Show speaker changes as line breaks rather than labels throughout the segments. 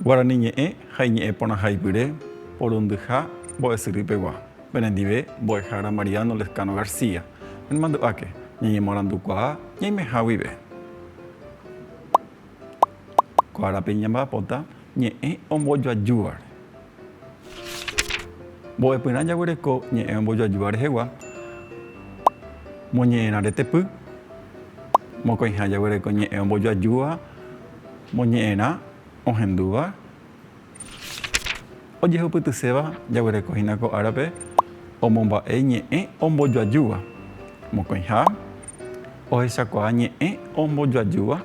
Guarani ñe'ẽ ha iñe'ẽ porãha ipyre, porundyha, mbo'esyrýi pegua. Penendive, mbo'ehára Mariano Lezcano García. Nemandu'áke, ñañemoarandukuaa ñaimeha guive. Ko árape ñamba'apóta ñe'ẽ ombojoajúvare. Mbo'epyrã jaguereko ñe'ẽ ombojoajúva rehegua, moñe'ẽrã retepy. Mokõiha jaguereko ñe'ẽ ombojoajúva, moñe'ẽrã ohendúva. Ojehupytyséva jaguereko hína ko árape omomba'e ñe'ẽ ombojoajúva, mokõiha, ohechakuaa ñe'ẽ ombojoajúva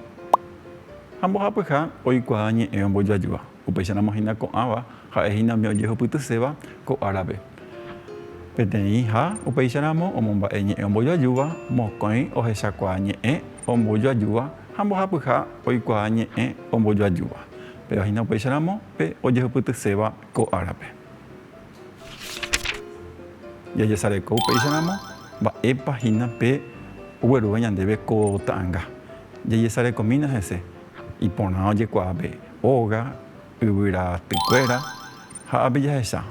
ha mbohapyha oikuaa ñe'ẽ ombojoajúva. Upéicharamo hína ko'ãva ha'e hína umi ojehupytyséva ko árape. Peteĩ ha upéicha ramo omomba'e ñe'ẽ ombojoajúva, mokõi ohechakuaa ñe'ẽ ombojoajúva ha mbohapyha oikuaa ñe'ẽ ombojoajúva. Péva hína upéicha ramo pe ojehupytyséva ko árape. Jajesareko upéicha ramo mba'épa hína pe oguerúva ñandéve ko ta'anga. Jajesarekomína hese iporã ojekuaa pe óga. Yvyratykuéra ha ápe jahecha,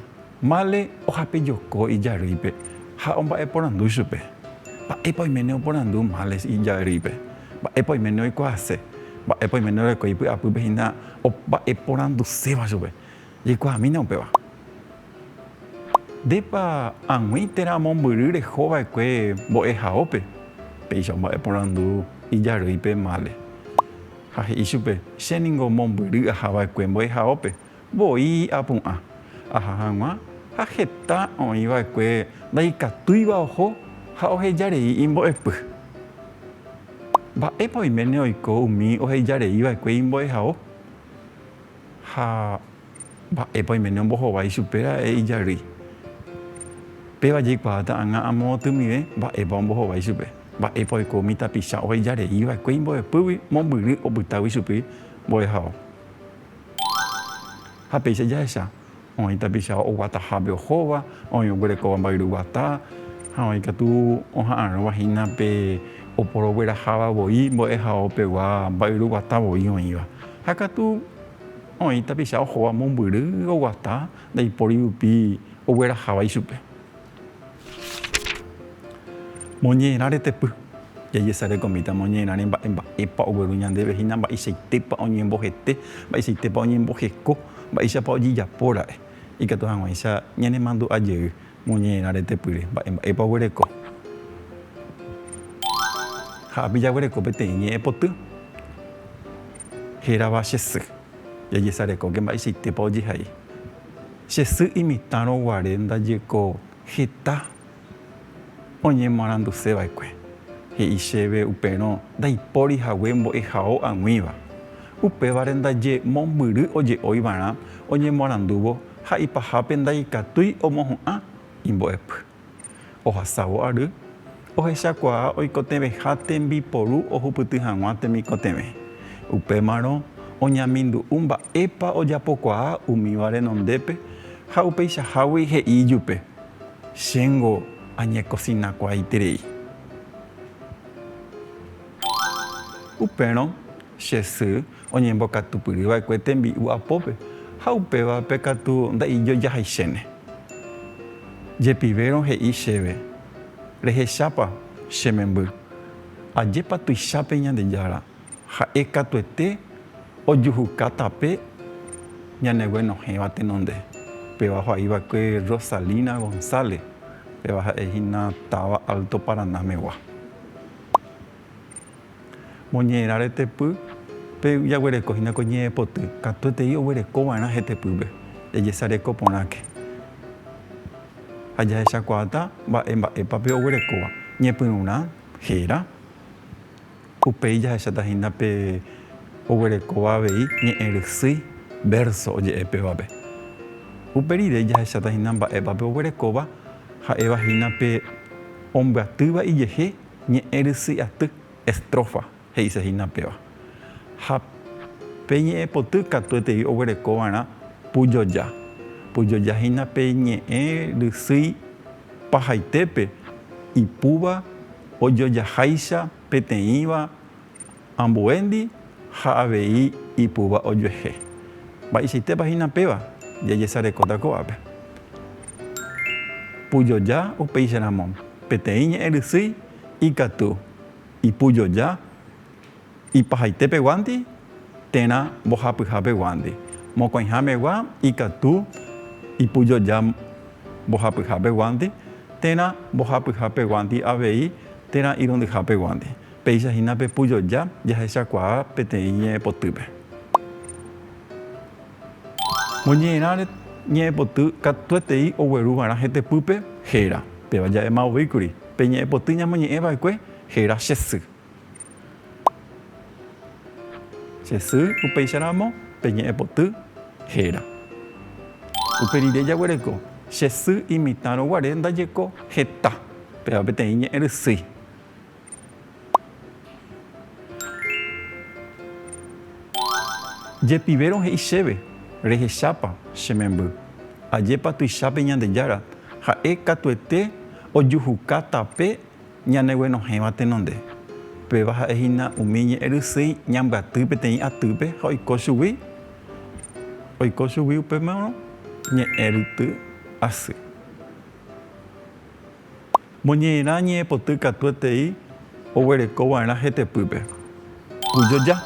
Male ohape joko ijarýipe ha omba'eporandu chupe, Mba'épa oiméne oporandu Male ijarýipe? Mba'épa oiméne oikuaase? Mba'épa oiméne orekói py'apýpe hína omba'eporanduséva chupe? Jaikuaamína upéva. Ndépa ag̃ui térã mombyry reho va'ekue mbo'ehaópe? Péicha omba'eporandu ijarýi pe Mále, ha he'i chupe, Che ningo mombyry aha va'ekue mbo'ehaópe, voi apu'ã. Aha hag̃ua ha heta oĩ va'ekue ndaikatúiva oho ha oheja rei imbo'epy. Mba'épa oiméne oiko umi oheja rei va'ekue imbo'ehao? Ha Mba'épa oiméne ombohovái ichupe ra'e ijarýi? Péva jaikuaáta ag̃a amo otymive mba'épa ombohovái ichupe. Mba'épa oiko umi tapicha oheja rei va'ekue imbo'epýgui mombyry opytágui ichupi mbo'ehao? Ha péicha jahecha, oĩ tapicha oguatahápe ohóva, oĩ oguerekóva mba'yru guata, ha oĩ katu oha'arõva hína pe oporogueraháva voi mbo'ehaopegua mba'yru guata voi oĩva. Ha katu. Oĩ tapicha ohóva mombyry oguata ndaipóri rupi ogueraháva ichupe. Moñe'ẽrã retepy. Jajesarekomíta moñe'ẽrã remba'e mba'épa ogueru ñandéve hína mba'eichaitépa oñembohete, mba'eichaitépa oñemboheko, mba'éichapa ojejapóra'e. Ikatu hag̃uáicha ñanemandu'a jey Moñe'ẽrã retepýre, mba'e mba'épa oguereko. Ha ápe jaguereko peteĩ ñe'ẽ poty hérava Che sy. Jajesarekóke mba'eichaitépa ojehai. Che sy imitãrõ guare ndaje ko heta oñemoaranduse va'ekue. He'i chéve uperõ ndaipóri hague mbo'ehao ag̃uíva. Upévare ndaje mombyry oje'ói va'erã oñemoarandúvo ha ipahápe ndaikatúi omohu'ã imbo'epy. Ohasávo ary, ohechakuaa oikotevẽha tembiporu ohupyty hag̃ua temikotevẽ. Upémarõ oñamindu'u mba'épa ojapokuaa umíva renondépe ha upeichahágui he'i ijupe, Chéngo añekosinakuaaiterei. Upérõ che sy oñembokatupyry va'ekue tembi'u apópe, ha upévape katu nda'ijojahaichéne. Jepivérõ he'i chéve, Rehechápa, che memby, ajépa tuichápe Ñandejára, ha'e katuete ojuhuka tape ñaneguenohẽva tenonde. Upéva ho'a'i va'ekue Rosalina González, upéva ha'e hína táva Alto Paraná megua. Moñe'ẽrã retepy pe jaguereko hína ko ñe'ẽpoty katuetei oguereko va'erã hetepýpe jajesareko porãke ha jahechakuaáta mba'e mba'épa pe oguerekóva. Ñepyrũrã héra, upéi jahecháta hína pe oguerekóva avei ñe'ẽ rysýi, vérso oje'e pévape. Upe rire jahecháta hína mba'épa pe oguerekóva ha'éva hína pe ombyatýva ijehe. Ñe'ẽ rysy aty, estrofa, he'ise hína péva. Ha pe ñe'ẽ poty katuetei oguereko va'erã pujoja. Pujoja hína pe ñe'ẽ rysýi pahaitépe, ipúva, ojojaháicha, peteĩva, Ambuéndi ha avei ipúva ojuehe. Mba'eichaitépa hína péva, jajesarekóta ko'ápe. Pujoja upéicharamo, peteĩ ñe'ẽ rysýi ikatu ipujoja ipahaitépeguánti térã mbohapyhápeguánti, mokõihámegua ikatu ipujoja mbohapyhápeguánti térã mbohapyhápeguánti avei térã irundyhápeguánti. Péicha hína pe pujoja jahechakuaa peteĩ ñe'ẽpotýpe. Moñe'ẽrãre ñe'ẽpoty katuetei ogueru va'erã hetepýpe héra. Péva jave ma'ovíkuri pe ñe'ẽpoty ñamoñe'ẽ va'ekue héra che sy. Che sy upéicharamo pe ñe'ẽpoty héra. Upe rire jaguereko che sy imitãrõ guare ndajeko heta. Péva peteĩ ñe'ẽrysýi. Jepivérõ he'i chéve, Rehechápa, che memby. Ajépa tuichápe Ñandejára, ha'e katuete ojuhuka tape ñaneguenohẽva tenonde. Péva ha'e hína umi ñe'ẽrysýi ñambyaty peteĩ atýpe ha oiko chugui, oiko chugui upémarõ ñe'ẽryty asy. Moñe'ẽrã ñe'ẽpoty katuetei oguereko va'erã hetepýpe. Kujoja.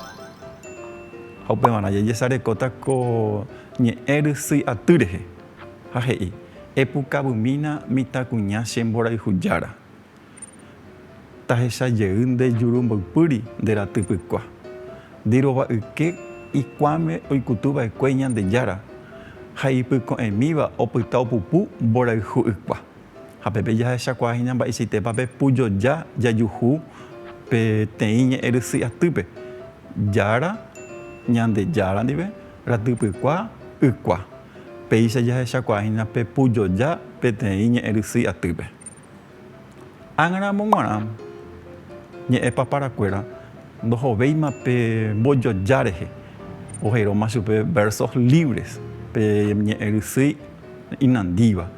Ha upevarã jajesarekóta ko ñe'ẽ rysy aty rehe. Ha he'i, Epukavymína mitãkuña che mborayhu jára. Tahecha jey nde juru mboypýri nde raty pykua. Ndirova yke ikuãme oikutu vaekue Ñandejára ha ipyko'ẽmíva opyta opupu mborayhu ykua. Ha pépe jahechakuaahína mba'eichaitépa pepujoja jajuhu peteĩ ñe'ẽrysy atýpe, Jára, Ñandejára ndive, Ratypykua, Ykua. Péicha jahechakuaahína pepujoja peteĩ ñe'ẽrysy atýpe. Ág̃aramo g̃uarã ñe'ẽpaparakuéra ndohovéima pe mbojoja rehe, ojeróma chupe versos libres pe ñe'ẽrysy inandíva.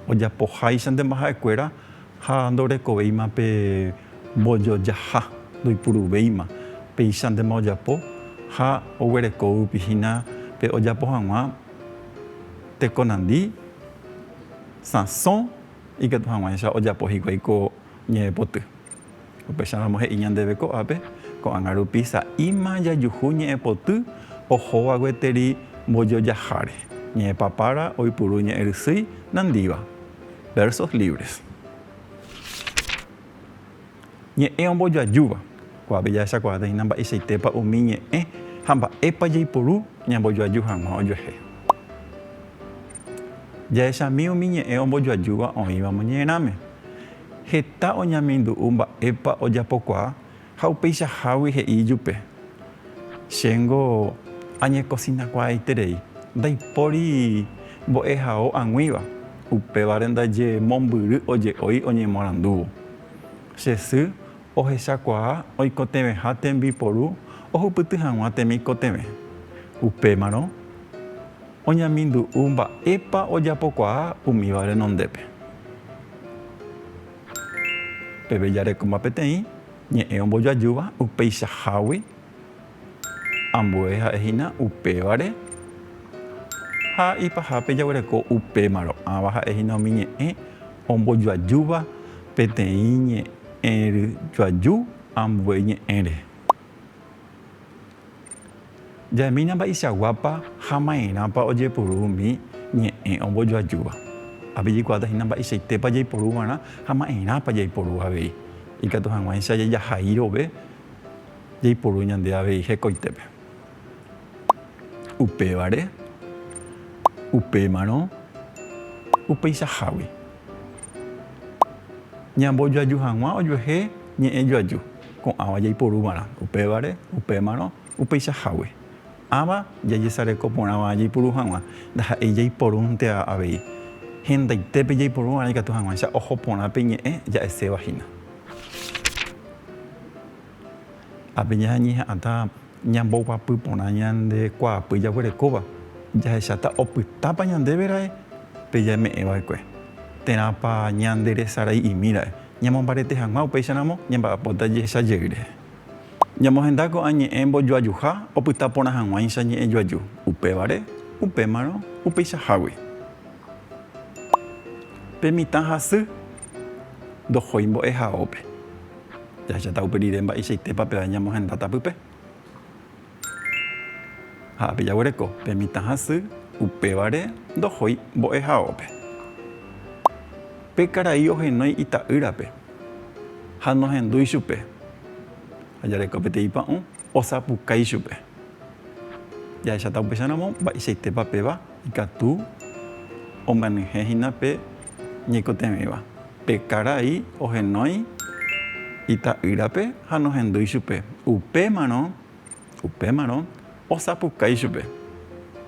ojapoháicha nde mbaha'ekuéra ha ndorekovéima pe mbojojaha, ndoipuruvéima péicha ndéma ojapo ha oguereko yvypi hína pe ojapo hag̃ua tekonandi, sãso ikatu hag̃uáicha ojapo hikuái ko ñe'ẽpoty. Upéicharamo he'i ñandéve ko'ápe, ko'ág̃a rupi sa'íma jajuhu ñe'ẽpoty ohóva gueteri mbojojaháre, ñe'ẽpapára oipuru ñe'ẽrysýi nandíva. Versos libres. Ñe'ẽ ombojoajúva. Ko'ápe jahechakuaáteina mba'eichaitépa umi ñe'ẽ ha mba'épa jaiporu ñambojoaju hag̃ua ojuehe. Jahechami umi ñe'ẽ ombojoajúva oĩva moñe'ẽrãme. heta oñamindu'u mba'épa ojapokuaa ha upeichahágui he'i ijupe, Chéngo añekosinakuaaiterei, ndaipóri mbo'ehao ag̃uíva, upévare ndaje mombyry oje'ói oñemorandúvo. Che sy Ohechakuaa oikotevẽha tembiporu ohupyty hag̃ua temikotevẽ. Upémarõ oñamindu'u mba'épa ojapokuaa umíva renondépe. Peve jarekóma peteĩ ñe'ẽ ombojoajúva upeichahágui. Ambue ha'e hína upévare ha ipahápe jaguereko upémarõ. Ãva ha'e hína umi ñe'ẽ ombojoajúva peteĩ ñe'ẽry joaju ambue ñe'ẽre. Jaimína mba'eichaguápa ha maerãpa ojepuru umi ñe'ẽ ombojoajúva. Ápe jaikuaáta hína mba'eichaitépa jaiporu va'erã ha maerãpa jaiporu avei. Ikatu hag̃uáicha jajahairove Jaiporu ñande avei hekoitépe. Upévare, upémarõ, upeichahágui. Ñambojoaju hag̃ua ojuehe ñe'ẽ joaju, ko'ãva jaiporu va'erã, upévare, upémarõ, upeichahágui. Ãva jajesareko porãva jaipuru hag̃ua, ndaha'éi jaiporúnteva avei. Hendaitépe jaiporu va'erã ikatu hag̃uáicha oho porã pe ñe'ẽ ja'eséva hína. Ha pe ñañe'ẽ ha'ãta ñamboguapy porã ñande kuaapy jaguerekóva, jahecháta opytápa ñandéve ra'e pe jame'ẽ va'ekue, térãpa ñande resarai'imi ra'e. Ñamombarete hag̃ua upéicharamo, ñamba'apóta jehecha jey rehe. Ñamohenda ko'ã ñe'ẽ mbojoajuha opyta porã hag̃uáicha ñe'ẽ joaju, upévare, upémarõ, upeichahágui. Pe mitã ha sy ndohói mbo'ehaópe. Jahecháta upe rire mba'eichaitépa pe ae ñamohendáta pype. Ha pejaguereko pe mitã hasy, upévare ndohói mbo'ehaópe. Pe karai ohenói ita'ýrape ha nohendúi chupe. Ha jareko peteĩ pa'ũ, osapukái chupe. Jahecháta upéicharamo mba'eichaitépa péva ikatu omyenyhẽ hína pe ñaikotevẽva. Pe karai ohenói ita'ýrape ha nohendúi chupe. Upémarõ, upémarõ osapukái chupe.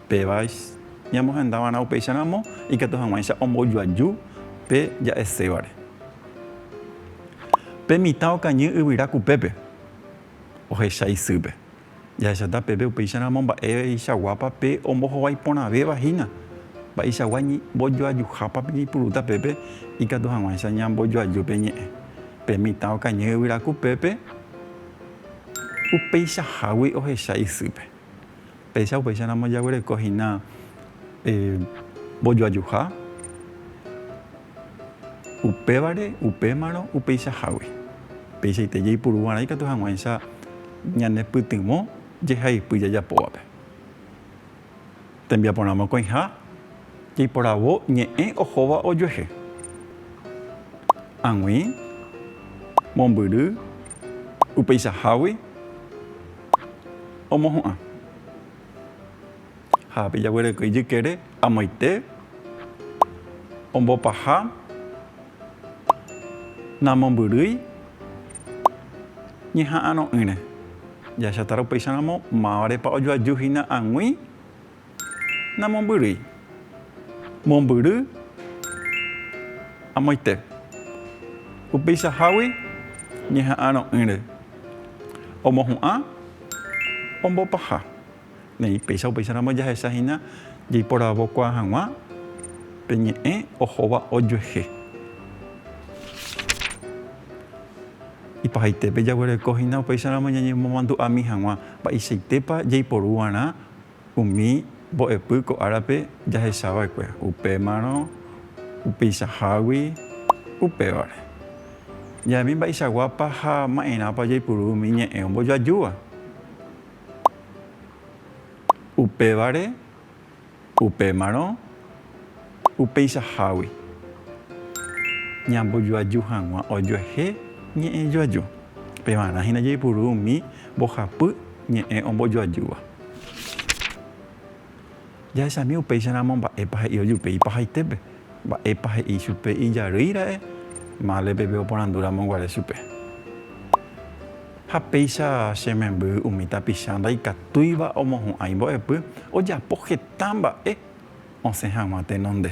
Péva ñamohenda va'erã upéicha ramo, ikatu hag̃uáicha ombojoaju pe ja'esévare. Pe mitã okañy yvyra kupépe, ohecha isýpe. Jahechata peve upéicharamo mba'eichaguápa pe ombohovái porãvéva hína. Mba'eichagua ñembojoajuhápa peñeipuruta pépe ikatu hag̃uáicha ñambojoaju pe ñe'ẽ. Pe mitã okañy yvyraku pépe upeichahágui ohecha isýpe. Péicha upéicharamo jaguereko hína mbojoajuha. Upévare, upémarõ, upeichahágui. Peichaite jaipuru g̃uarã ikatu hag̃uáicha ñanepytyvõ jehaipy jajapóvape. Tembiaporã mokõiha jaiporavo ñe'ẽ ohóva ojuehe. Ag̃ui, mombyry, upeichahágui, omohu'ã. ha pe jaguereko ijykére amoite ombopaha namombyrýi ñeha'arõ'ỹre. Jahechatárõ upéicha ramo mávarepa ojoaju hína ag̃ui namombyrýi. Mombyry amoite upeichahágui ñeha'arõ'ỹre omohu'ã ombopaha. Neĩ péicha upéicharamo jahecha hína jeiporavokuaa hag̃ua pe ñe'ẽ ohóva ojuehe. Ipahaitépe jaguereko hína upéicharamo ñañemomandu'ami hag̃ua mba'eichaitépa jaiporu va'erã umi mbo'epy ko árape jahecha va'ekue, upémarõ, upeichahágui, upévare. Ja'emi mba'eichaguápa ha ma'erãpa jaipuru umi ñe'ẽ ombojoajúva. Upévare, upémarõ, upeichahágui, ñambojoaju hag̃ua ojuehe ñe'ẽ joaju. Pevarã hína jaipuru umi mbohapy ñe'ẽ ombojoajúva. Jahechami upéicharamo mba'épa he'i ojupe ipahaitépe, mba'épa he'i chupe ijarýi ra'e, mále peve oporandúramo guare chupe. Ha péicha che memby umi tapicha ndaikatúiva omohu'ãi mbo'epy ojapo heta mba'e osẽ hag̃ua tenonde.